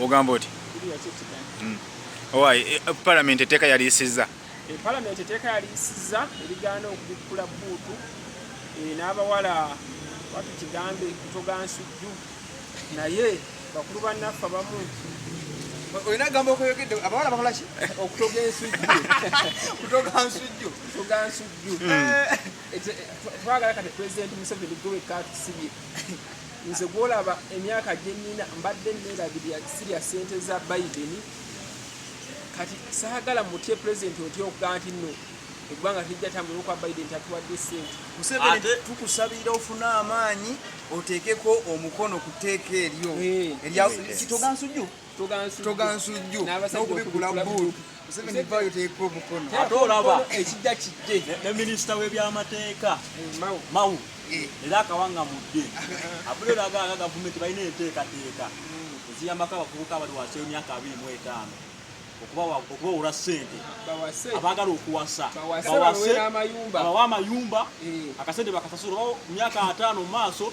ogamba oti hmm. owaye eh, eh, palamenti eteeka yaliyisizza eh, palamenti eteeka yaliyisizza erigaana okubikkula buutu n'abawala watu kigambe kutogansujju naye bakulu bannaffe abamu olina gamba okweyogedde abawala bakola ki okutoga ensujju kutoga nsujju kutoga nsujju hmm. eh, eh, twagala kati president museveni gwe wekka atusibye nze gwolaba emyaka gyenina mbadde neerabirira sirya sente za biden kati saagala mutye pulezidenti otya okugaa nti no eggwanga tejja tambula okwa biden tatuwadde sente museveni tukusabira ofune amaanyi oteekeko omukono ku tteeka eryo eh. erya kitogansujju togansujju n'okubikkula bbuulu museveni vayo teeka omukono ate olaba ekijja kijje ne minisita w'ebyamateeka eh, mawu eh. era akawanga mudde abulero agaga gavumenti balina enteekateeka hmm. eziyambako abavubuka abali wansi w'emyaka abiri mu etaano okubawula sente abagala okuwasa bawa amayumba eh. akasente bakasasula myaka ataano mu maaso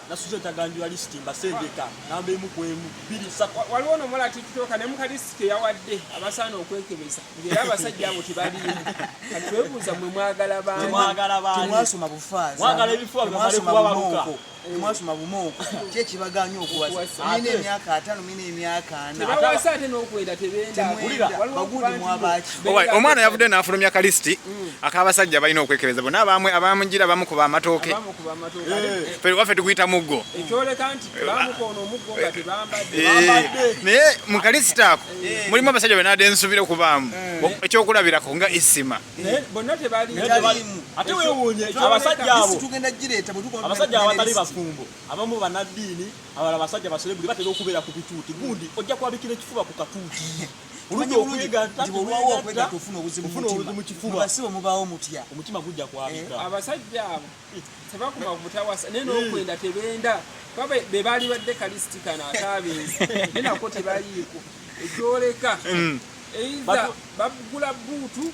nasuze ntaganjula lisiti mbasengeka namba emu ku emu bbiri ssatu waliwo ono omuwala tikitoka ne muka lisiti yawadde abasaana okwekebeza ngaera abasajja abo tebaliimu kati twebuuza mwe mwagala baanimwasoma bufaazimwagala ebifuba bimale kubabaluka mwasoma bumooko kyekibaganya okuwasa nina emyaka atano omwana yavudde n'afulumya kalisiti mm. ak'abasajja balina okwekebeza bona abamwe abamugira bamukuba amatooke eh. waffe tukuyita muggo naye mu kalisiti ako eh. mulimu abasajja benade nsubira okubaamu eh. ekyokulabirako nga isima abasajja abatali bafumbo abamu banaddiini Abala basajja baserebuli batera okubeera ku bituuti gundi ojja kwabikira ekifuba ku katuuti omutima gujja kwabika eh, abasajja abo eh, tebakuma butawasa naye nokwenda eh. tebenda kuba be baali badde kalistikana ataabenzi naye nako tebaliiko ekyoleka mm. eiza bagula buutu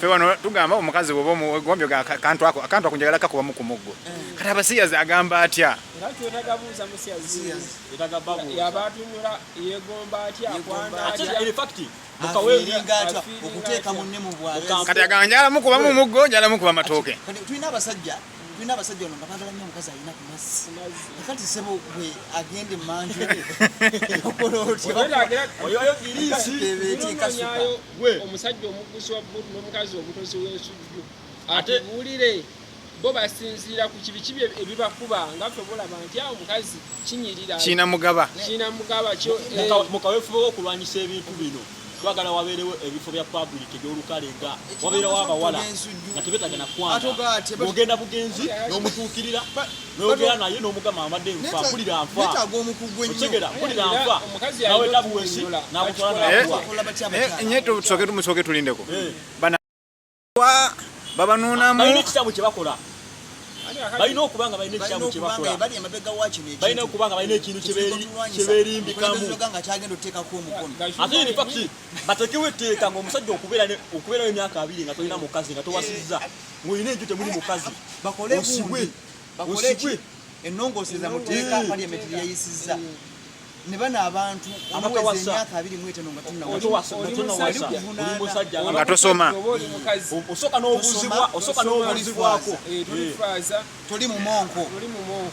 fe wano tugamba omukazi woba omugombyo akantu ako akantu ako njagala kakubamu ku muggo eh. kati abasiyazi agamba atya kati agamba njala mukubamu muggo njala mukuba matooke tulina abasajja tulina abasajja ono nga bagala nnyo omukazi alina ku mazzi kati sebo gwe agende manju omusajja omuguzi wa butu n'omukazi omutozi w'ensujju atubuulire bo basinziira ku kibi kibi ebibakuba nga ffe bulaba nti awo omukazi kinyirira kiina mugaba kiina mugaba eh. mu kaweefube w'okulwanyisa ebintu bino twagala wabeerewo ebifo bya public ebyolukale nga wabeerawo abawala nga tebetaga nakwanogenda bugenzi nomutuukirira noyogera naye nomugamba amadde nfa mpulira nfaotegera mpulira nfa naweta buwesi nakutwala nakuwa nye tusoke tumusooke tulindeko eh. babanuunamu balina ekisabu kye bakola balina okuba nga balina ekisabu kye bakola balina okuba nga balina ekintu kye beerimbikamu ate in fact bateekewo etteeka ng'omusajja okubeerayo emyaka abiri nga tolina mukazi nga towasizza eh, ng'olina enju temuli mukazi osibwe osibwe ennongooseza mu tteeka parliament lyeyisizza ne bano abantu abakawasa emyaka abiri mu etaano nga tunnawasa nga tosoma osooka n'obuzibwa osooka n'obuzibwako eh, eh. toli mu monko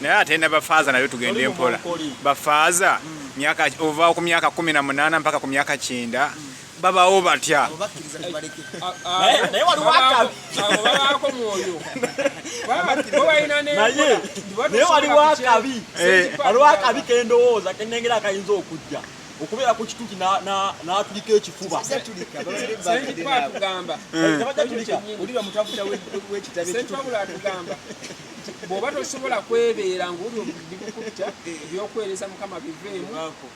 naye ate na bafaaza nayo tugende empola bafaaza hmm. ova ku myaka kumi na munaana mpaka ku myaka kyenda hmm. babawo batya naye waliwo akabi waliwo akabi kendowooza kenengera akayinza okujja okubeera ku kituti n'atulika ekifuba bwoba tosobola kwebeera ngaoli obudibukutta ebyokuweereza mukama biveemu